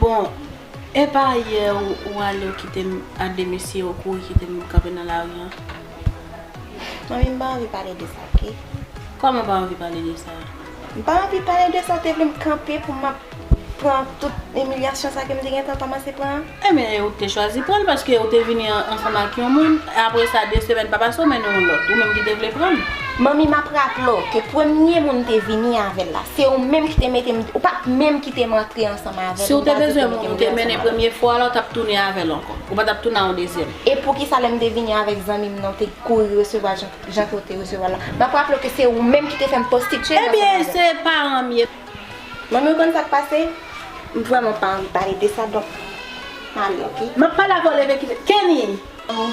Bon epa yè ou ale ou kitem a de mesye ou kouri kitem kanpe nan lari an. Manmi m pa anvi pale de sa ok. Kòman pa anvi pale de sa? M pa anvi pale de sa ou te vle m kanpe pou m ap pran tout imilyasyon sa ke m te gentan kòmanse pran an? Enben e ou te chwazi pran l paske ou te vini ansanm ak yon moun, e apre sa de semèn pa pase ou mennen yon lòt, ou menm ki te vle pran l. Manmi m ap raple w ke premye moun m te vini avè l la, se ou menm ki te mete m, ou pa t menm kite m antre ansanm avè l. Si ou te bezwen moun ou te mennen premye fwa la, ou t ap tounen avè l ankò, ou pa t ap tounen a yon dezyèm. E poukisa lè m te vini avèk zanmi m nan ou te kouri resevwa l jan ke ou te resevwa l la? M ap raple w ke se ou menm ki te fè m konstitye m ansanm avè l. Ebyen se paran m ye. Manmi ou konn sak pase? M vrèman pa anvi pale de sa donk m ale ok. Map pale avèw leve kite Kenny! Oh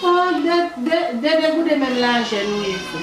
oh de degoude menm lajè nou ye vre.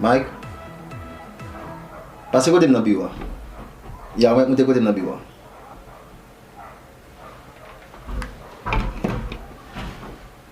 Mike, pase kote m nan biwo a. Ya, Mike monte kote m nan biwo a.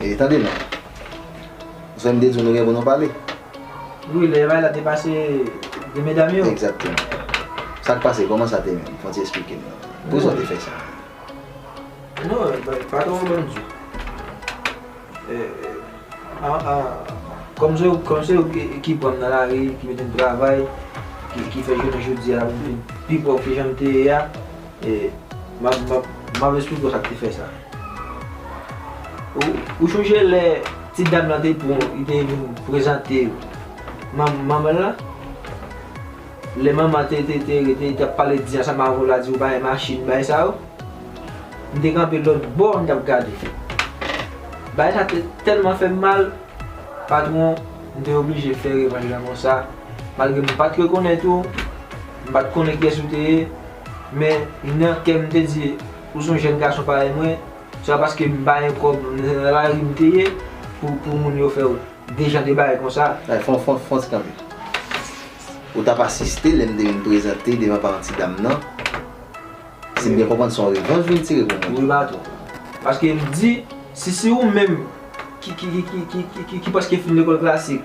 E tande non. Ou fè m de di w nou gen pou nou pale. Wi, lè bay la te pase 2 medam yo. Egzakteman. Sa k pase? Kòman sa te menm? Fon ti esplike m non. Pou ki sa w te fè sa? Non, patwon an ban m di w. Kòm se yo, kòm se yo ki pran m nan lari, ki mete m travay, ki fè jounen jodi a m vin pi pòv ke jan m te ye a. M ap esplike w sa k te fè sa. Ou chonje lè ti dam lan te pran li te vin prezante manman l lan? Lè manman te rete te ap pale di ansanm avè w la di w bagay machin bagay sa yo? M te kanpe lòt bò m t ap gade. Bagay sa te tèlman fè m mal, patwon m te oblije fè revanj lan konsa. Malgre m pa t rekonèt ou, m pa t konnen kiyès ou te ye, Men, nan kè m m te di, Ou s on jèn gason parèy mwen, se pa paske m pa gen kòb, m nan lari m te ye, pou moun yo fè w de jan de bagay konsa. Ay, fon, fon, fon ti kanpe. Ou t ap asiste lè m te vin prezante devan paran ti dam nan. Si m byen konprann, se yon revanj ou vin tire pou mwen. Wi, patwon. Paske m di, si se ou menm ki prèske fin lekòl klasik,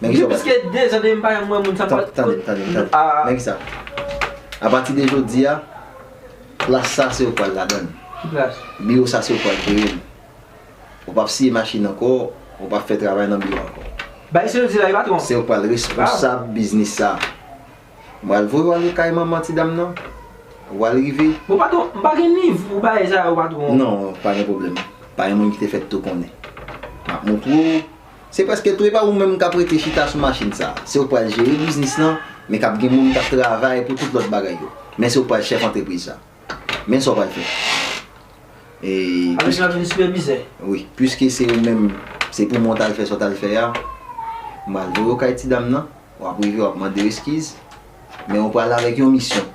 Men kisa w pral fè? Gen plis ke 2 zan depi m pa janm wè moun sa m pral. Tande, tande, tande. Men kisa. Apati de jodi a, plas sa se ou k pral ladan l. Ki plas? Biwo sa se ou k pral jere l. Ou pap siye machin ankò, ou pap fè travay nan biwo ankò. Bay sa yo di la wi patwon. Se ou k pral responsab biznis sa. M pral voye w ale kay manman ti dam nan. Ou pral rive. Bon patwon, m pa gen nivo bagay sa yo patwon. Non, pa gen pwoblèm. Pa gen moun ki te fèt tou konnen. M ap montre w. Se prèske tou e pa ou menm k ap rete chita sou machin sa. Se ou k pral jere biznis lan, men k ap gen moun k ap travay pou tout lòt bagay yo. Men se ou k pral chèf antrepriz sa. Men sa w pral fè. Avèk la vin sipèvizè. Wi. Piske se ou menm, se pou mwen w t al fè sa w t al fè a, m pral voye w kay ti dam nan, w ap rive w ap mande yo eskiz, men ou pral avèk yon misyon.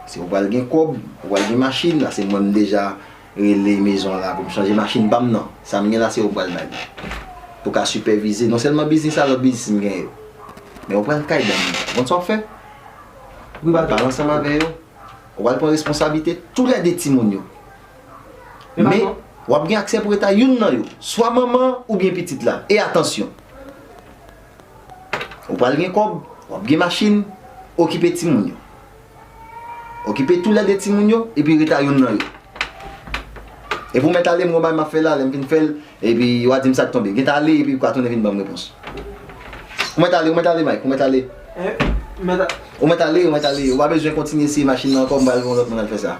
Se ou pral gen kòb, ou pral gen machin, ase mwen menm deja. Rele mezon an la pou m chanje machin pa m nan. Sa m gen la se ou pral bay m. Pou w ka sipèvize non sèlman biznis la, lòt biznis m gen yo. Men ou pral kay banm. Ou konn sa w ap fè? Ou pral pale ansanm avè yo. Ou pral pran responsablite tou lè de timoun yo. Men, w ap gen aksè pou eta youn nan yo. Swa manman an oubyen pitit la. E atansyon! Ou pral gen kòb, w ap gen machin, okipe timoun yo. Okipe tou lède timoun yo epi reta youn nan yo. E pou mèt ale m gon bagay m ap fè la, lè m fin fè l epi wa di m sa k tonbe. Genta ale epi ka tounen vin ban m repons. Ou mèt ale, ou mèt ale Mike, ou mèt ale. Ou mèt ale, ou mèt ale, ou pa bezwen kontinye eseye machin nan ankò, m pral voye yon lòt moun al fè sa.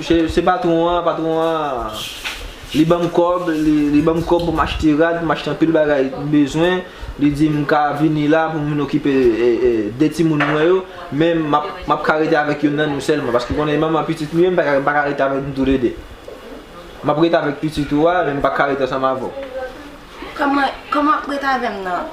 Se patron an, patron an li banm kòb, li banm kòb pou m achte rad, pou m achte anpil bagay m bezwen, li di m ka vini la pou m vin okipe 2 timoun mwen yo, men m ap ka rete avèk youn nan nou sèlman paske ou konnen manman pitit nou ye m pa ka rete avèk nou toule 2. M ap rete avèk pitit ou a men m pa ka rete ansanm avè w. Kòman, kòman ap rete avè m nan?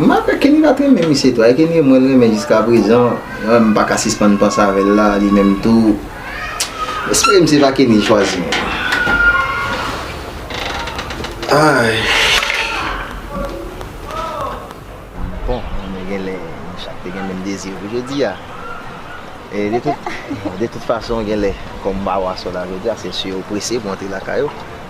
M ap fè Kenny pat renmen misye tou ay Kenny mwen renmen jiskaprezan m paka sispann panse avèl la li menm tou m espere m se pa Kenny l chwazi menm aayy. Bon mwen genlè nou chak te gen menm dezi pou jodia e de tout fason genlè kòm m pa wè aswè la jodia se si yo prese pou antre lakay yo.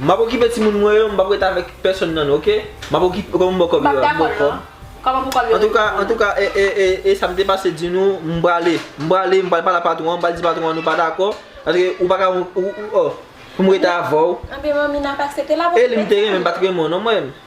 Map okipe timoun mwen yo, m pap ret avèk pèsòn nan nou ok. Map okipe yo, kòman pou kòb yo a? M bò kòb. Antouka, antouka ee sa m te pase di nou, m prale. M prale, m pral pale ak patwon an, m pral di patwon an nou pa dakò. Paske ou pa ka ou, ou, ou, oh. Pou m ret avè w. Anben manmi nan pa aksepte la pou m ret avè w. Eli m te renmen, m pat renmen w non mwen.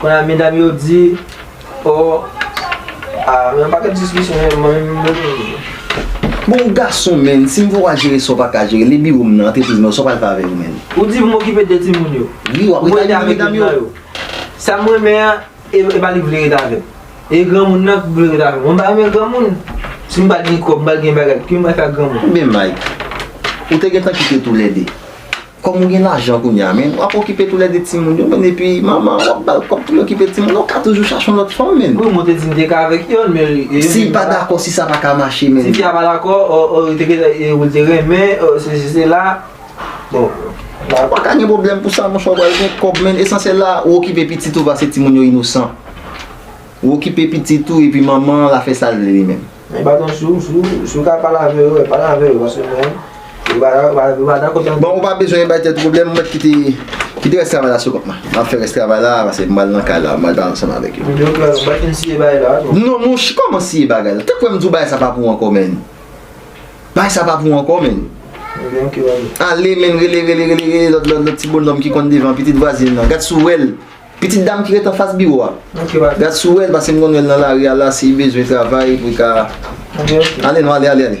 Konya medam yo di oh ah yon paket diskisyon yo mwen menm mwen menm. Bon ou gason menn, si m fè w al jere sa w pa ka jere, le biwo m nan, antrepriz mwen yo, sa w pral fè avè yo menn? Ou di pou m okipe 2 timoun yo. Wi, w ap rete avèk medam yo. Sa m renmen an, e pa li k vle rete avè m. E granmoun nan k vle rete avè m. Mwen pa renmen granmoun. Si m pa gen kòb, m pa gen bagay, ki m pral fè ak granmoun? Ebyen Mike, ou te gentan kite toulède. Kòm ou gen lajan kounye a menn, wap okipe tou lè 2 timoun yo menn epi manman an wap bal kòb pou li okipe timoun yo, ou ka toujou chache yon lòt fanm menn. Wi mwen te di m te ka avèk yonn men li te Si pa dakò si sa pa ka mache menn. Si fi a pa dakò oh oh li te gentan e ou li te renmen oh sesi sela bon. Ou paka gen pwoblèm pou sa monchè ou pral gen kòb menn esansyèl la ou okipe pitit ou pase timoun yo inosan. Ou okipe pitit ou epi manman an la fè sal vle li menm. Men baton si ou ka pale avè yo, pale avè yo paske mwen yo pa dakò tande. Bon ou pa bezwen bay tèt ou pwoblèm mwen kite kite rès travay la sou kont mwen. Map fè rès travay la paske m pral nan kay la, m pral pale ansanm avèk yo. Yo pral, ou pa fin siye bagay la ankò. Non monchè kòman siye bagay la? Te kwè m di w bagay sa pa pou ou ankò menn. Bagay sa pa pou ou ankò menn. Ebyen ok wale. Ale menn rele rele rele rele lòt lòt lòt ti bonòm ki konn devan pitit vwazin nan. Gad si w wè l. Pitit dam ki ret anfas biwo a. Gad si w wè l pase m konn wè l nan lari a la si li bezwen travay pou l ka. Ale non ale ale ale.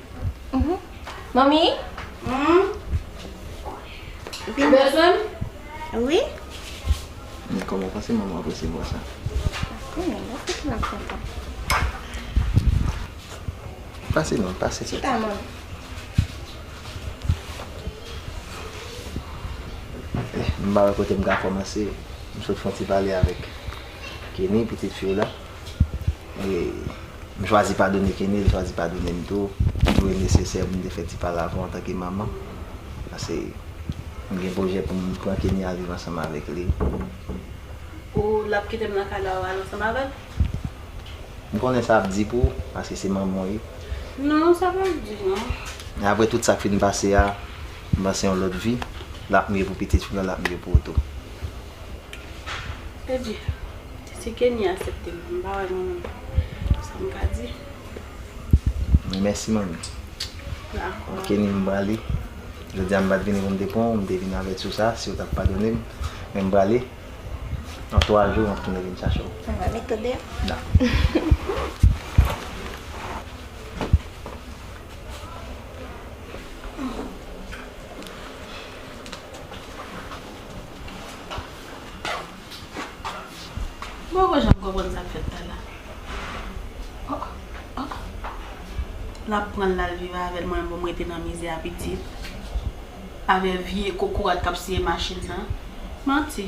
Manmi? Ou bezwen m? Wi. Ni kòman w panse manman w ap resevwa sa? Kou men, mwen panse l ap kontan. Pase non, pase. Chita manmi. M pa wè kote m ka kòmanse. M sot fon ti pale avèk. Kenny pitit fi w la e m chwazi padone Kenny, li chwazi padone m tou. Li jwe nesesè pou m te fè ti pale avè w antanke manman. Pase m gen pwojè pou m pran Kenny al viv ansanm avèk li. Ou l ap kite m nan kay la ou al ansanm avè l? M konnen sa ap di pou ou paske se manman w ye. Non, sa pa di non. Men apre tout sa k fin pase a, m panse yon lòt vi l ap mye pou pitit fi w la, l ap mye pou ou tou. Te di. Te se Kenny asepte m. M pa wè gen sa m ka di. Mwen mèsi manmi. Dakò. Bon Kenny m prale. Jodi a m pat vini pou m te pran w. M te vini avèti w sa, si w tap padone m. Men m prale. Nan 3 jou m ap tounen vin chache w. Mwen va met to deyò. Dakò. M poko janm konprann sa k fèt la la Oh oh L ap pran l l al viv avè l mwen m pou m rete nan mizè a pitit Avè vye kokorat k ap siye machin nan Manti